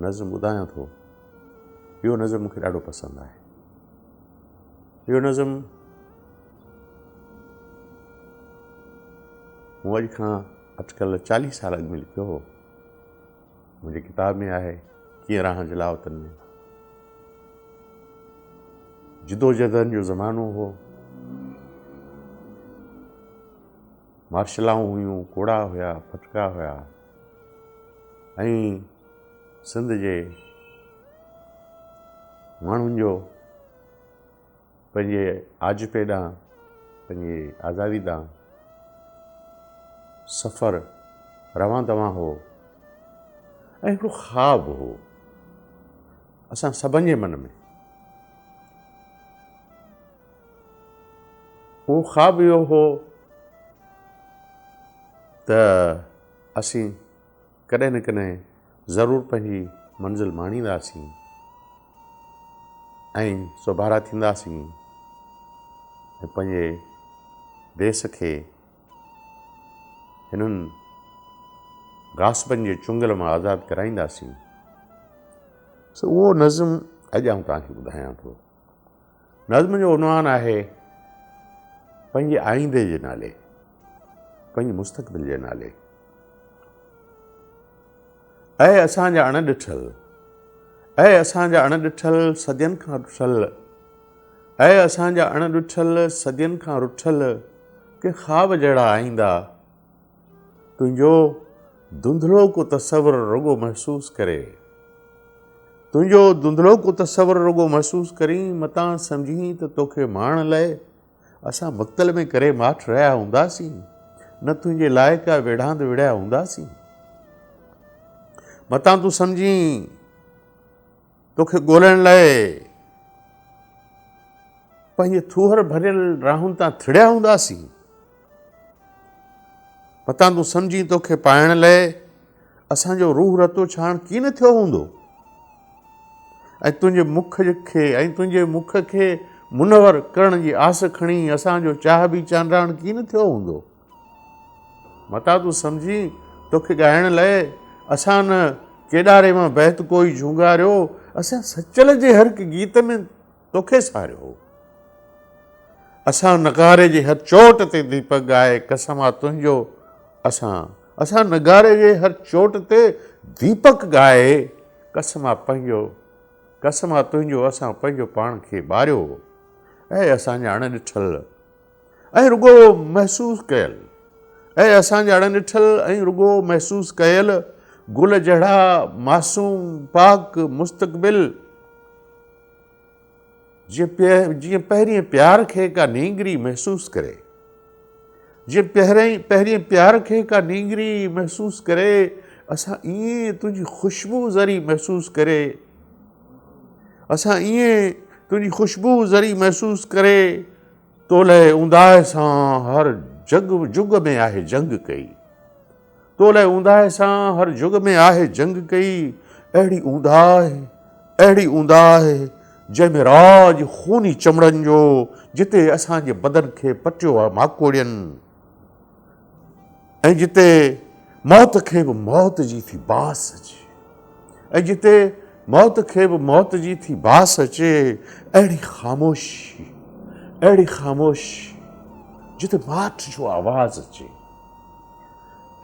نظم ٻڌايان ٿو اهو نظم مونکي ڏاڍو پسند آهي اهو نظم مون اڄ کان اٽڪل چاليهه سال اڳ ۾ لکيو هو منهنجي ڪتاب ۾ آهي ڪيئن راهن جي لاوتن ۾ جدوجدن جو زمانو هو مارشلائون هيون، ڪوڙا هيا، ڦٿڪا هيا ۽ سنڌ جي ماڻهن جو پنهنجي آجپي ڏانهن، پنهنجي آزادي ڏانهن سفر روان دوان هو ۽ هڪڙو خواب هو اسان سڀن جي من ۾. هو خواب اهو هو ته اسين ڪڏهن نه ڪڏهن ضرور پنهنجي منزل ماڻينداسين ۽ سوڀارا ٿينداسين ۽ پنهنجي ديس کي هنن غاصبن جي چنگل مان آزاد ڪرائينداسين سو اهو نظم اڄ آئون توهان کي ٻڌايان ٿو نظم جو عنوان آهي پنهنجي آئيندي جي نالي پنهنجي مستقبل جي نالي اي اسان جا اڻ ڏٺل اي اسان جا اڻ ڏٺل صدين کان رٺل اي اسان جا اڻ ڏٺل صدين کان رٺل ڪي خواب جهڙا آئيندا تنهنجو ڌنڌلو ڪو تصور رڳو محسوس ڪري. تنهنجو ڌنڌلو ڪو تصور رڳو محسوس ڪرين متان سمجهين ته توکي ماڻڻ لاء اسان مڪتل ۾ ڪري ماٺ رهيا هونداسين نه تنهنجي لاء ڪا ويڙهاند وڙهيا هونداسين متان تون سمجهين توکي ڳولڻ لاء پنهنجي ٿوهر ڀريل راهن تان ٿڙيا هونداسين. متان تون سمجهين توکي پائڻ لاء اسان جو روح رتو ڇاڻ ڪي نه ٿيو هوندو ۽ تنهنجي مک کي ۽ تنهنجي مک کي منور ڪرڻ جي آس کڻي اسان جو چاهه به چانڊراڻ ڪي نه ٿيو هوندو. متان تون سمجهين توکي ڳائڻ لئه اسان نه ڪيڏاري مان بهت ڪوئي جهونگاريو اسان سچل جي هر هڪ گيت ۾ توکي ساريو اسان نغاري جي هر چوٽ تي ديپڪ ڳائي قسم آ تنهنجو اسان اسان نغاري جي هر چوٽ تي ديپڪ ڳائي قسم آ پنهنجو قسم آ تنهنجو اسان پنهنجو پاڻ کي ٻاريو اي اسان جا اڻ ڏٺل ۽ رڳو محسوس ڪيل اهي اسان جهڙن ڏٺل ۽ رڳو محسوس ڪيل گل جهڙا معصوم پاڪ مستقبل جيئن پهرين پيار کي ڪا نينگري محسوس ڪري جيئن پهرين پيار کي ڪا نينگري محسوس ڪري اسان ائين تنهنجي خوشبو ذري محسوس ڪري اسان ائين تنهنجي خوشبو ذري محسوس ڪري تو لئه اونداهه سان هر جڳ جڳ ۾ آهه جنگ ڪئي تو لئه اونداهه سان هر جڳ ۾ آهه جنگ ڪئي اهڙي اونداهه اهڙي اونداهه جنهن ۾ راڄ خوني چمڙن جو جتي اسان جي بدن کي پٽيو آهه ماڪوڙين ۽ جتي موت کي به موت جي ٿي باس اچي ۽ جتي موت کي به موت جي ٿي باس اچي اهڙي خاموشي اهڙي خاموشي جتي ماٺ جو آواز اچي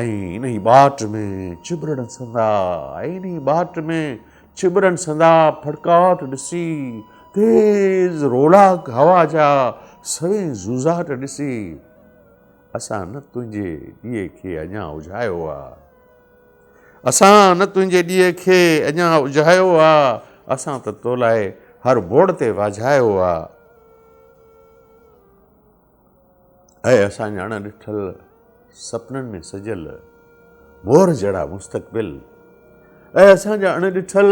انهي ٻاٽ ۾ چٻرڙ سندا انهي ٻاٽ ۾ چٻرڙ سندا ڦڙڪاٽ ڏسي تيز رولاڪ هوا جا سوين زوزاٽ ڏسي اسان نه تنهنجي ڏيئي کي اڃا اجهايو آ. اسان نه تنهنجي ڏيئي کي اڃا اجهايو آ. اسان ته تو لاء هر بوڙ تي واجهايو آ. اي اسان جا اڻ ڏٺل سپنن ۾ سجيل مور جهڙا مستقبل. اي اسان جا اڻ ڏٺل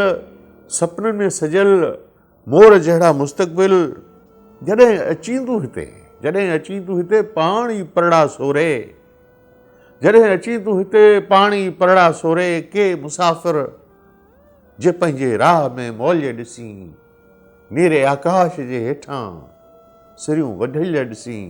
سپنن ۾ سجيل. مور جهڙا مستقبل جڏهن اچين تون هتي جڏهن اچين تون هتي پاڻ ئي پرڙا سوري جڏهن اچين تون هتي پاڻ ئي پرڙا سوري ڪي مسافر جي پنهنجي راهه ۾ موليء ڏسين نيري آڪاش جي هيٺان سريون وڍليء ڏسين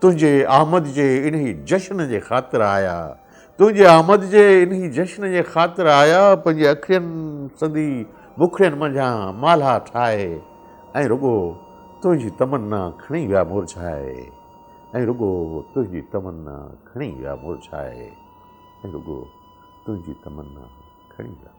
تنهنجي آمد جي انهي جشن جي خاطر آيا تنهنجي آمد جي انهي جشن جي خاطر آيا پنهنجي اکين سندي مکڙين منجهان مالها ٺاهي ۽ رڳو تنهنجي تمنا کڻي ويا مرجهائي ۽ رڳو تنهنجي تمنا کڻي ويا مرجهائي ۽ رڳو تنهنجي تمنا کڻي ويا مرجهائي.